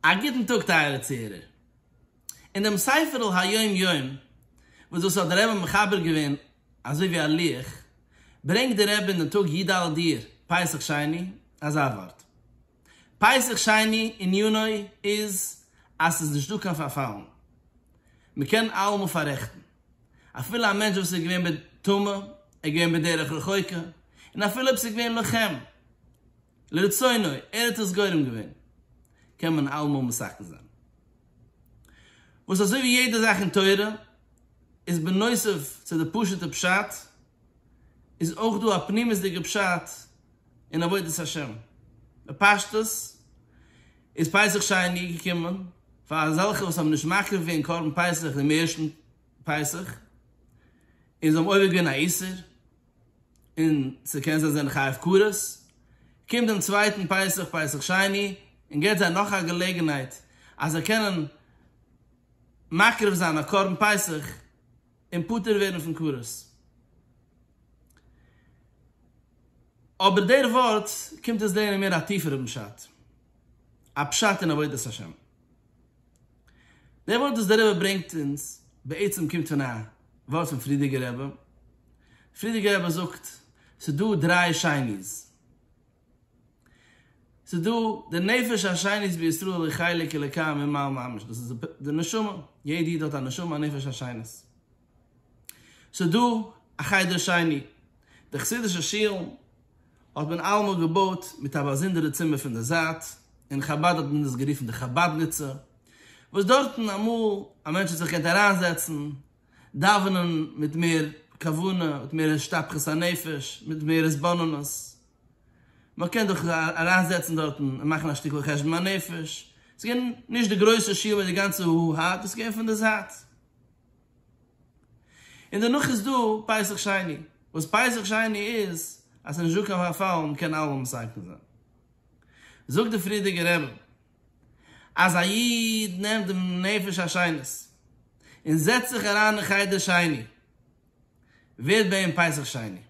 א גוטן טאג טייערע צוהערער. אין דעם ספר'ל היום יום וואס דאס האט דער רבי מחבר געווען אזוי ווי א לוח, ברענגט דער רבי אין דעם טאג י ד אייר פסח שני אזא ווארט, פסח שני עניינו איז אז ס'איז נישט דא קיין פארפאלן, מ'קען אלעמאל פאררעכטן, אפילו א מענטש וואס איז געווען בטומאה, ער איז געווען בדרך רחוקה, און אפילו אויב ס'איז געווען לוחם, לרצונו, ער האט עס גורם געווען, קען מען אלעמאל מסכן זיין. וואס אזוי ווי יעדע זאך אין תורה, איז בנוסף צו די פשוט'ע פשט, איז אויך דא א פנימית'דיגע פשט אין עבודת השם. בפשטות, איז פסח שני געקומען פאר אזעלכע וואס האבן נישט מקריב געווען קרבן פסח דעם ערשטן פסח, און זיי האבן עובר געווען א איסור, און ס'קען זיין זיי זענען חייב כרת, קומט דעם צווייטן פסח, פסח שני, און געבט זיי נאך א געלעגנהייט אז זיי קענען מקריב זיין א קרבן פסח און פטור ווערן פון כרת. אבער דער ווארט קומט אונז לערנען מער א טיפערער פשט, א פשט אין עבודת השם. דער ווארט וואס דער רבי ברענגט אונז בעצם קומט פון א ווארט פון פרידיגער רבי, פרידיגער רבי זאגט ס'איז דא דריי שני'ס, ס'איז דא די נפש השנית בישראל היא חלק אלוקי ממעל ממש, דאס איז די נשמה, יעדע איד האט א נשמה א נפש השנית, ס'איז דא א חדר שני. די חסידישע שילן האט מען אלעמאל געבויט מיט א באזונדערע צימער פון די זייט, אין חבד האט מען דאס גערופן די חבדניצע, וואס דארטן אמאל א מענטש האט זיך געקענט אריינזעצן, דאווענען מיט מער כוונה, מיט מער השתפכות הנפש, מיט מער התבוננות. מען קען זיך אריינזעצן דארטן און מאכן א שטיקל חשבון הנפש. ס'איז געווען נישט די גרויסע שול מיט די גאנצע הו הא, דאס איז געווען פון די זייט. און דערנאך איז דא פסח שני, וואס פסח שני איז אז ס'איז נישט דא קיין פארפאל, מ'קען אלעמאל מסכם זיין. זאגט די פריערדיגע רבי אז א איד נעמט דעם נפש העשנות און זעצט זיך אריין אין חדר שני, ווערט ביי אים פסח שני.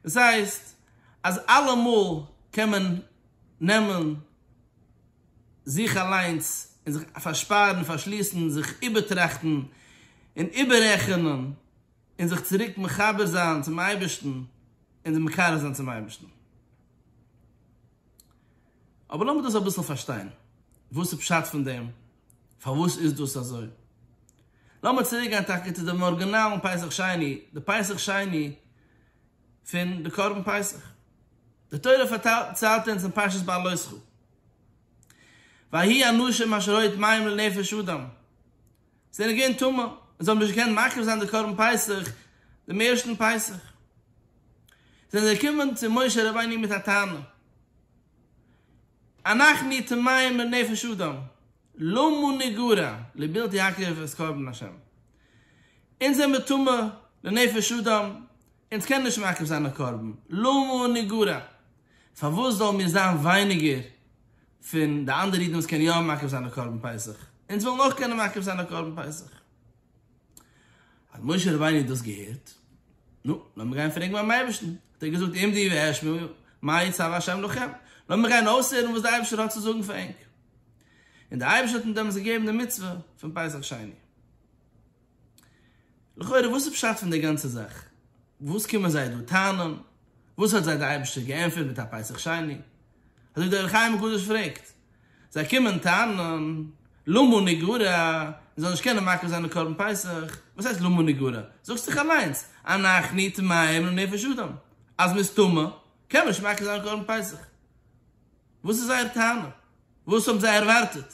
דאס הייסט אז אלעמאל קען מען נעמען. זיך אליינס און זיך פארשפארן, פארשליסן, זיך איבערטראכטן און איבעררעכענען און זיך צוריק מחבר זיין צום אייבערשטן און מקרב זיין צום אייבערשטן. אבער לאמיר דאס אביסל פארשטיין, וואס איז פשט פון דעם? פארוואס איז דאס אזוי? לאמיר צוריק גיין טאקע צו דעם ארגינאלן פסח שני, די פסח שני פון די קרבן פסח. די תורה פארציילט אונז אין פרשת בלותך, ויהי אנשים אשר ראו את מים לנפש אדם זענען געווען טמא און זיי האבן נישט געקענט מקריב זיין די קרבן פסח דעם ערשטן פסח, זענען זיי געקומען צו משה רבינו מיט א טענה, אנחנו טמאים לנפש אדם, למה נגרע לבלתי הקריב את קרבן השם? אונז זעמיר טמא לנפש אדם, אונז קענען נישט מקריב זיין א קרבן, למה נגרע? פארוואס זאלן מיר זיין ווייניגער פון די אנדערע אידן וואס קענען יא מקריב זיין א קרבן פסח? אונז ווילן אויך קענען מקריב זיין א קרבן פסח. האט משה רבינו דאס געהערט, נו, לאמיר גיין פרעגן ביים אייבערשטן. האט ער געזאגט, עמדי ואשמע מה יצוה השם לכם. לאמיר גיין אויסהערן וואס דער אייבערשטער האט צו זאגן פאר ענק. און דער אייבערשטער האט אים דעמאלטס געגעבן די מצוה פון פסח שני. לכאורה וואס איז פשט פון די גאנצע זאך? וואס קומען זיי דא טענה'ן? וואס האט זיי די אייבערשטער געענטפערט מיט א פסח שני? אזוי דער אור החיים הקדוש פרעגט. זיי קומען טענה'ן, למה נגרע, מען זאל נישט קענען מקריב זיין די קרבן פסח. וואס הייסט למה נגרע? זאגסט דאך אליינס, אנכי טמאים לנפש אדם, אז מען איז טמא קען מען נישט מקריב זיין קרבן פסח. וואס איז זייער טענה? וואס האבן זיי ערווארטעט?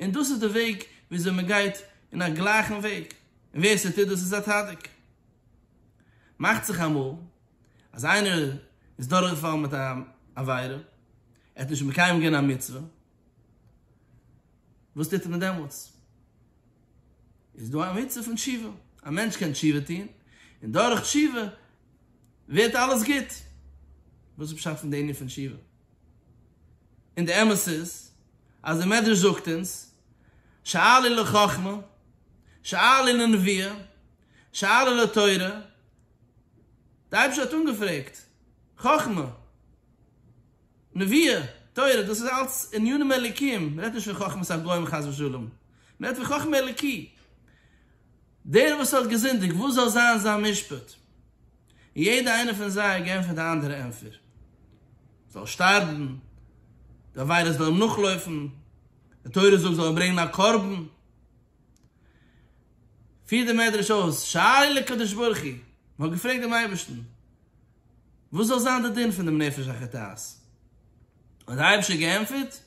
און דאס איז די וועג וויאזוי מען גייט אין א גלייכן וועג, און ווער ס'טוט דאס איז א צדיק. מאכט זיך אמאל אז איינער איז דורכגעפאלן מיט אן עבירה, ער האט נישט מקיים געווען א מצוה, וואס טוט מען דעמאלטס? איז דא א מצוה פון תשובה, א מענטש קען תשובה טון, און דורך תשובה ווערט אלעס גוט. וואס איז פשט פון די ענין פון תשובה? און די אמת איז אז די מדרש זאגט אונז שאלי לחכמה שאלי לנביאה שאלי לתורה, די אייבערשטער האט אנגעפרעגט חכמה נביאה תורה, דאס איז אלץ ענינים אלוקיים, מען רעדט נישט פון חכמת הגוים חס ושלום, מען רעדט פון חכמה אלוקי, דער וואס האט געזינדיגט וואס זאל זיין זיין משפט? און יעדע איינע פון זיי האט געענטפערט די אנדערע ענטפער, זאל שטארבן, די עבירות זאל אים נאכלויפן, די תורה זאגט זאל ער ברענגן א קרבן. פירט דער מדרש אויס, שאל לקדוש ברוך הוא, מען האט געפרעגט דעם אייבערשטן, וואס זאל זיין די דין פון דעם נפש החוטאת? האט דער אייבערשטער געענטפערט,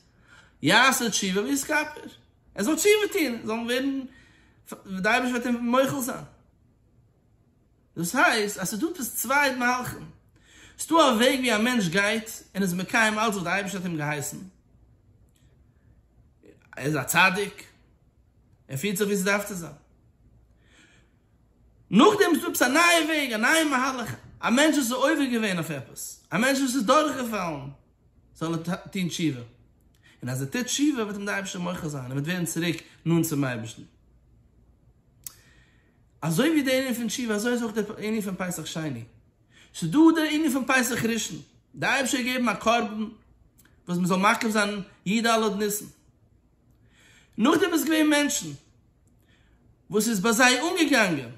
יעשה תשובה ויתכפר, ער זאל תשובה טון, זאל ווערן, דער אייבערשטער וועט אים מוחל זיין. דאס הייסט אז ס'איז דא עפעס צוויי מהלכים, ס'איז דא א וועג ווי א מענטש גייט און איז מקיים אלץ וואס די אייבערשטער האט אים געהייסן, ער איז א צדיק, ער פירט זיך ווי ס'דארף צו זיין. נאכדעם איז דא עפעס א נייע וועג, א נייע מהלך, א מענטש וואס איז עובר געווען אויף עפעס, א מענטש וואס איז דורכגעפאלן, זאל ער טון תשובה, און אז ער טוט תשובה וועט אים די אייבערשטער מוחל זיין, ער וועט ווערן צוריק נאנט צום אייבערשטן. אזוי ווי די ענין פון תשובה אזוי איז אויך די ענין פון פסח שני, ס'איז דא די ענין פון פסח ראשון, די אייבערשטער האט געגעבן א קרבן וואס מ'זאל מקריב זיין י ד אלול ניסן, נאכדעם איז געווען מענטשן וואס איז ביי זיי אנגעגאנגען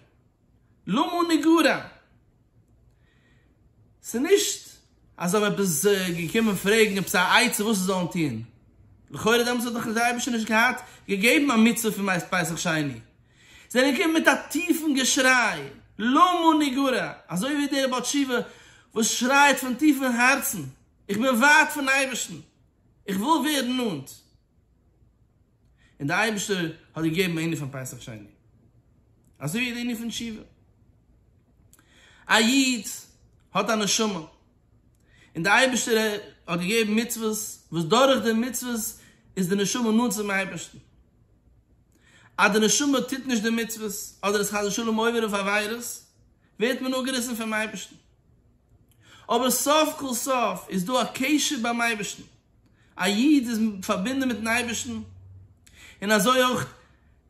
למה נגרע, ס'איז נישט אז זיי האבן עפעס געקומען פרעגן עפעס א עצה וואס זיי זאלן טון, לכאורה דעמאלטס האט דאך דער אייבערשטער נישט געהאט געגעבן א מצוה פון מעת פסח שני, זיי זענען געקומען מיט א טיפן געשריי, למה נגרע, אזוי ווי דער בעל תשובה וואס שרייט פון טיפן הארצן, איך בין ווייט פון אייבערשטן, איך וויל ווערן נאנט, און דער אייבערשטער האט געגעבן א ענין פון פסח שני, אזוי ווי די ענין פון תשובה. א איד האט א נשמה, און דער אייבערשטער האט געגעבן מצוות, וואס דורך די מצוות איז די נשמה נאנט צום אייבערשטן. אז די נשמה טוט נישט די מצוות, אדער איז חס ושלום עובר אויף עבירות, ווערט מען אפגעריסן פונעם אייבערשטן. אבער סוף כל סוף איז דא א קשר ביים אייבערשטן, א איד איז פארבינדן מיטן אייבערשטן, און אזוי אויך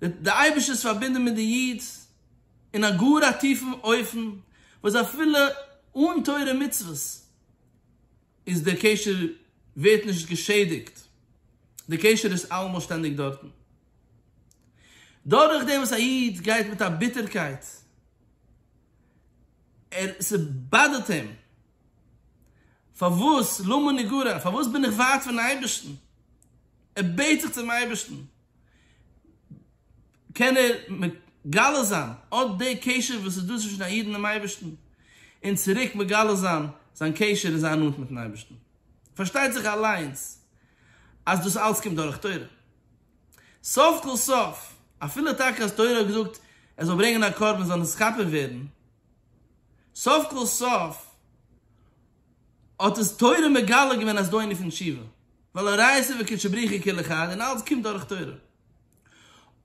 דער אייבערשטער איז פארבינדן מיט די איד אין א גאר א טיפן אופן, וואס אפילו אן תורה ומצוות איז דער קשר ווערט נישט געשעדיגט, דער קשר איז אלעמאל שטענדיג דארטן. דורכדעם וואס א איד גייט מיט א ביטערקייט, ער ס'באדערט אים פארוואס למה נגרע? פארוואס בין איך ווייט פון אייבערשטן? ער בעט זיך צום אייבערשטן, קען ער מגלה זיין אט די קשר וואס איז דא צווישן א איד און דעם אייבערשטן, און צוריק מגלה זיין זיין קשר און זיין נאנט מיטן אייבערשטן. פארשטייט זיך אליינס אז דאס אלץ קומט דורך תורה. סוף כל סוף, אפילו טאקע אז תורה האט געזאגט ער זאל ברענגען א קרבן, זאל נישט ס'כפר ווערן, סוף כל סוף האט עס תורה מגלה געווען אז דאהי נפענט שיבה, ווייל הראיה ספר קודשא בריחי כל אחד און אלץ קומט דורך תורה.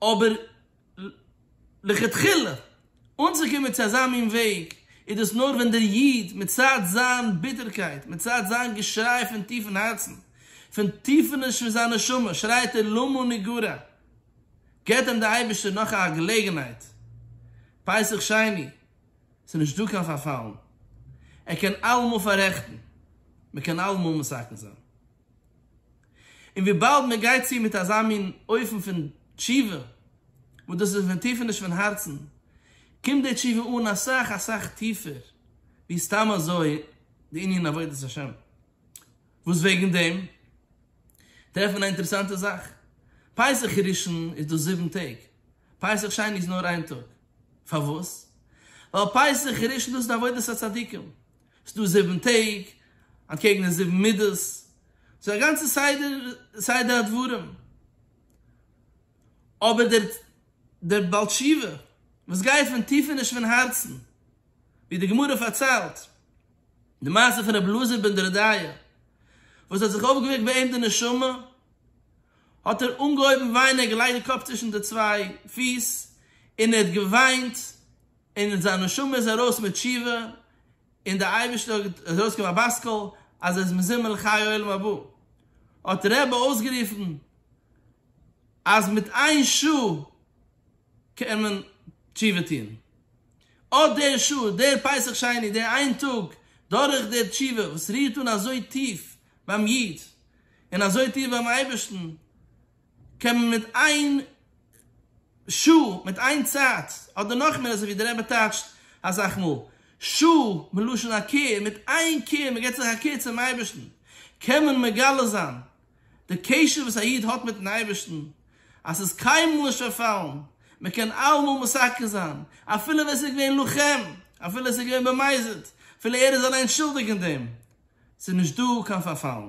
אבער לכתחילה אנצוקומען צו אזא מין וועג איז דאס נאר ווען דער איד מצד זיין ביטערקייט, מצד זיין געשריי פון טיפן הארצן, פון טיפעניש פון זיין נשמה שרייט ער למה נגרע. געט אים דער אייבערשטער נאך א געלעגנהייט, פסח שני, ס'איז נישט דא קיין פארפאלן, ער קען אלעמאל פאררעכטן, מען קען אלעמאל מתקן זיין. און וויבאלד מען גייט צו מיט אזא מין אופן פון תשובה, וואס דאס איז פון טיפעניש פון הארצן, קומט די תשובה אן אסאך אסאך טיפער ווי סתם אזוי די ענין עבודת השם. וואס וועגן דעם טרעפט מען א אינטערעסאנטע זאך, פסח ראשון איז דא זיבן טעג, פסח שני איז נאר איין טאג, פארוואס? ווייל פסח ראשון דאס איז עבודת הצדיקים, עס איז דא זיבן טעג, אנטקעגן די זיבן מידות, ס'איז א גאנצע סדר סדר הדברים, אבער דער דער בעל תשובה וואס גייט פון טיפעניש פון הארצן, ווי די גמרא פארציילט, די מעשה פון רבי אלעזר בן דורדיא וואס האט זיך אויפגעוועקט ביי אים די נשמה, האט ער אנגעהויבן וויינען, ער האט געלייגט די קאפ צווישן די צוויי פיס און ער האט געוויינט, און זיין נשמה איז ארויס מיט תשובה, און די אייבערשטער האט, עס איז ארויסגעקומען א בת קול אז ער איז מזומן לחיי העולם הבא, האט רבי אויסגערופן אז מיט איין שעה, קען מען תשובה טון אט דער שעה, דער פסח שני, דער איין טאג, דורך דער תשובה וואס רירט אן אזוי טיף ביים איד און אזוי טיף ביים אייבערשטן, קען מען מיט איין שעה, מיט איין צייט, אדער נאך מער אזוי ווי דער רבי טייטשט אסאך מאל, שעה מלשון הכר, מיט איין קער, מען געבט זיך א קער צום אייבערשטן, קען מען מגלה זיין די קשר וואס א איד האט מיטן אייבערשטן, אז ס'איז קיינמאל נישט פארפאלן, מען קען אלעמאל משחק זיין, אפילו ווען ס'איז געווען לוחם, אפילו ס'איז געווען במזיד, אפילו ער איז אליין שולדיג אין דעם, ס'איז נישט דא קיין פארפאלן.